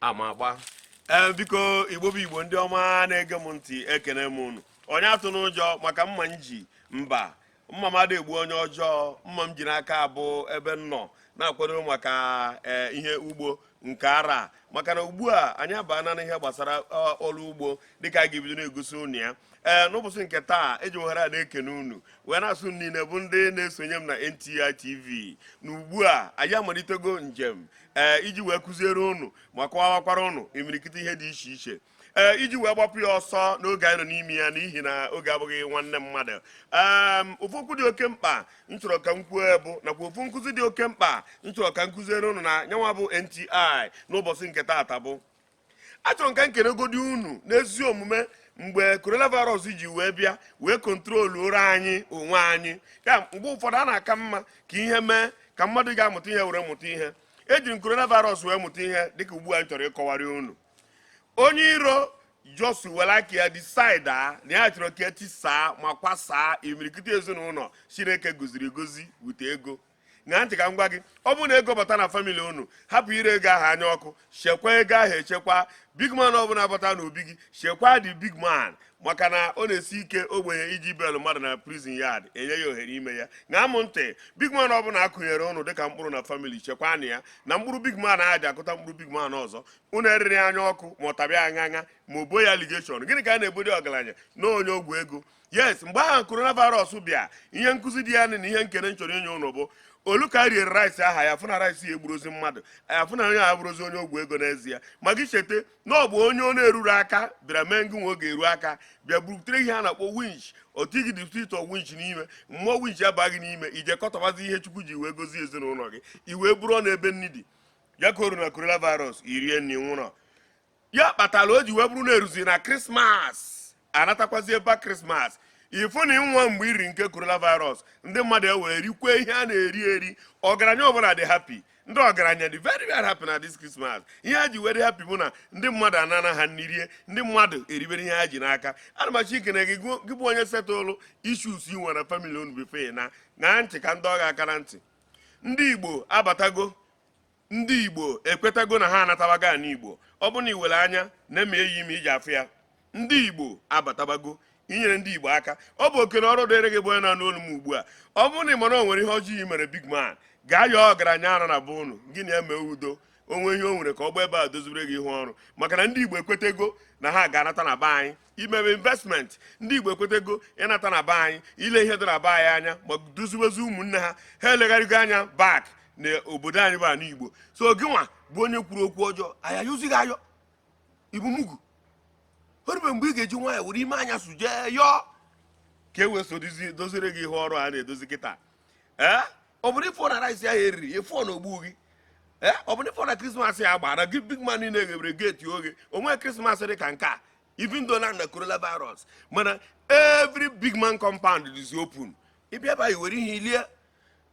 ama agba ee eh, biko igbo bụ igbo ndị ọma na-ege m ntị ekene m unu onye atụna ụjọ maka mma m ji mba mma m ada egbu onye ọjọọ mma m ji n'aka bụ ebe m nọ na-akwado maka eh, ihe ugbo nke ara maka na ugbu a anyị abaana n'ihe gbasara eh, ọrụ ugbo dịka a ga-ebido na-egosi unu ya ee n'ụbọchị nke taa eji ohere a na-ekene unu wee na-asị unu niile bụ ndị na-esonye m na NTI TV na ugbu a anyị amalitego njem ee iji wee kụziere ụnụ ma kọwawakwara ụnụ imirikiti ihe dị iche iche ee iji wee gbapụ ya ọsọ n'oge anyị nọ n'ime ya n'ihi na oge abụghị nwanne mmadụ ee ofu okwu dị oke mkpa m chọrọ ka m kwuo bụ nakwa ofu nkụzi dị oke mkpa m chọrọ ka m kụziere ụnụ na nya nwa bụ NTI n'ụbọchị nke taata bụ achọrọ m ka m kelegodi unu n'ezi omume mgbe coronavirus ji wee bịa wee control ụra anyị onwe anyị ya mgbe ụfọdụ a na-aka mma ka ihe mee ka mmadụ ga-amụta ihe were mụta ihe ejiri m coronavirus wee mụta ihe dịka ugbu a m chọrọ ịkọwara unu onye iro just were aka ya decide na ya chọrọ ka e tisaa ma kwasaa imirikiti ezinụlọ chineke goziri egozi bute ego ṅaa ntị ka m gwa gị ọ bụrụ na ego bata na family unu hapụ iri ego ahụ anya ọkụ chekwa ego ahụ echekwa big man ọbụla bata n'obi gị chekwa the big man maka na ọ na-esi ike ogbenye iji bail mmadụ na prison yard enye ya ohere ime ya ṅaa m ntị big man ọbụla a kụnyere ụnụ dịka mkpụrụ na family chekwanụ ya na mkpụrụ big man e ji akụta mkpụrụ big man ọzọ unu eriri anya ọkụ ma ọ tabịa aṅa aṅa ma e bo ya allegation gịnị ka a na-ebodi ọgaranya na onye ọgwụ ego yes mgbe ahụ coronavirus bịa ihe nkụzi dị ya na ihe ekene m chọrọ inye ụnụ bụ o lu ka e riere rice aha a fụ na rice ya egburozi mmadụ a fụ na onye ya abụrọzi onye ọgwụ ego n'ezie ma gị cheta na ọ bụ onye ọ na-eruru aka bịara mee ngị nwe oge eru aka bịa burutere ihe a na-akpọ winch otu igi distrito winch n'ime mmụọ winch abaa gị n'ime i jee kọtọbazie ihe chukwu ji wee gozie ezinụlọ gị i wee bụrụ na ebe nni dị ya ka o ru na coronavirus i rie nri ị nwụrọ ya kpatara o ji wee bụrụ na-eruzi na Christmas a natakwazie ịgba Christmas ị fụ na ịnwa mgbe e riri nke coronavirus ndị mmadụ ewee rikwe ihe a na-eri eri ọgaranya ọbụla dị happy ndị ọgaranya dị very very happy na this Christmas ihe ha ji wee dị happy bụ na ndị mmadụ anana ha nni rie ndị mmadụ eribere ihe ha ji n'aka ana m achọ ikene gị gị bụ onye settle issues i nwere na family unu before now ṅaa ntị ka m dọọ gị aka na ntị ndị Igbo abatago ndị igbo ekwetago na ha anatabago ana igbo ọ bụ na i nwere anya na-eme eyi ime iji afụ ya ndị igbo abatabago inyere ndị igbo aka ọ bụ oke na ọrụ dịrị gị bụ onye na-anụ olu m ugbu a ọ bụrụ na ị ma na o nwere ihe ọjọọ i mere big man gaa yọọ ọgaranya ara na be ụnụ gị na ya mee udo o nwee ihe o nwere ka ọ gba ebe a dozibere gị ihu ọrụ maka na ndị igbo ekwetago na ha ga-anata na be anyị imebe investment ndị igbo ekwetego ịnata na be anyị ile ihe dị na be anyị anya ma doziwezi ụmụnne ha ha elegharịgo anya back na obodo anyị bụ ana igbo so gị nwa bụ onye kwuru okwu ọjọọ a ya-ayọzi gị ayọ ị bụ mugu o rube mgbe ị ga-eji nwayọọ were ime anya su jee yọọ ka e wee so dozire gị ihe ọrụ a na-edozi kịta ee eh? ọ bụrụ ife na rice ya eriri efu na ogbu gị ee eh, ọ bụrụ ife na krismas ya gbara gị big man niile ghebere gate oghe o nwe krismas dị ka nke a even though na corona virus mana every big man compound is open ị bịa baa were ihe i lie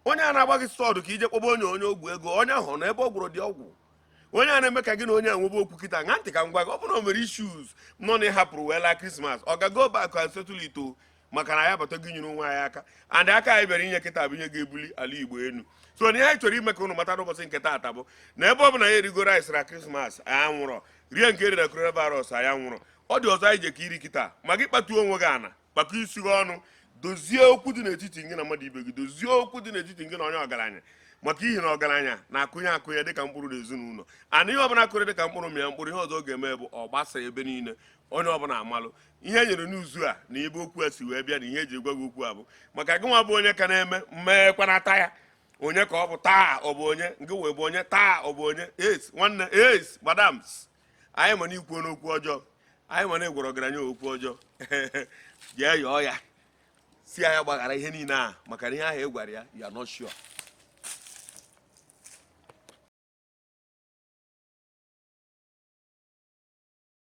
onye a na-agba gị sọdụ ka i je kpọba onye onye ọgwụ ego onye ahụ na ebe ọ gwọrọ dị ọgwụ onye a na-eme ka gị na onye a nwebe okwu kịta ṅa ntị ka m gwa gị ọ bụrụ na o nwere issues nọ na ị hapụrụ wee laa krismas oga go back and settle it o maka na anyị abatago inyere onwe anyị aka and aka anyị bịara inye kịta bụ ihe ga-ebuli ala igbo elu so na ihe anyị chọrọ ime ka ụnụ mata n'ụbọchị nke taata bụ na ebe ọ bụ na anyị erigo rice na krismas anyị anwụrọ rie nke e riri na coronavirus anyị anwụrọ ọ dị ọzọ anyị je ka iri kịta ma gị kpatuo onwe gị ana kpakọ isi gị ọnụ dozie okwu dị n'etiti gị na mmadụ ibe gị dozie okwu dị n'etiti gị na onye ọgaranya maka ihi na ọgaranya na-akụnye akụnye dịka mkpụrụ na ezinụlọ and ihe ọbụla a kụrụ dịka mkpụrụ mịa mkpụrụ ihe ọzọ ọ ga-eme bụ ọ gbasa ebe niile onye ọbụla amalụ ihe e nyere n'izu a na ebe okwu a si wee bịa na ihe e ji gwa gị okwu a bụ maka gị nwa bụ onye ka na-eme mmeekwanata ya onye ka ọ bụ taa ọ bụ onye nke wee bụ onye taa ọ bụ onye es nwanne es madams anyị ma na i kwuona okwu ọjọọ anyị ma na ị gwara ọgaranya okwu ọjọọ jee yọọ ya sị ya gbaghara ihe niile a maka na ihe ahụ ị gwara ya you're not sure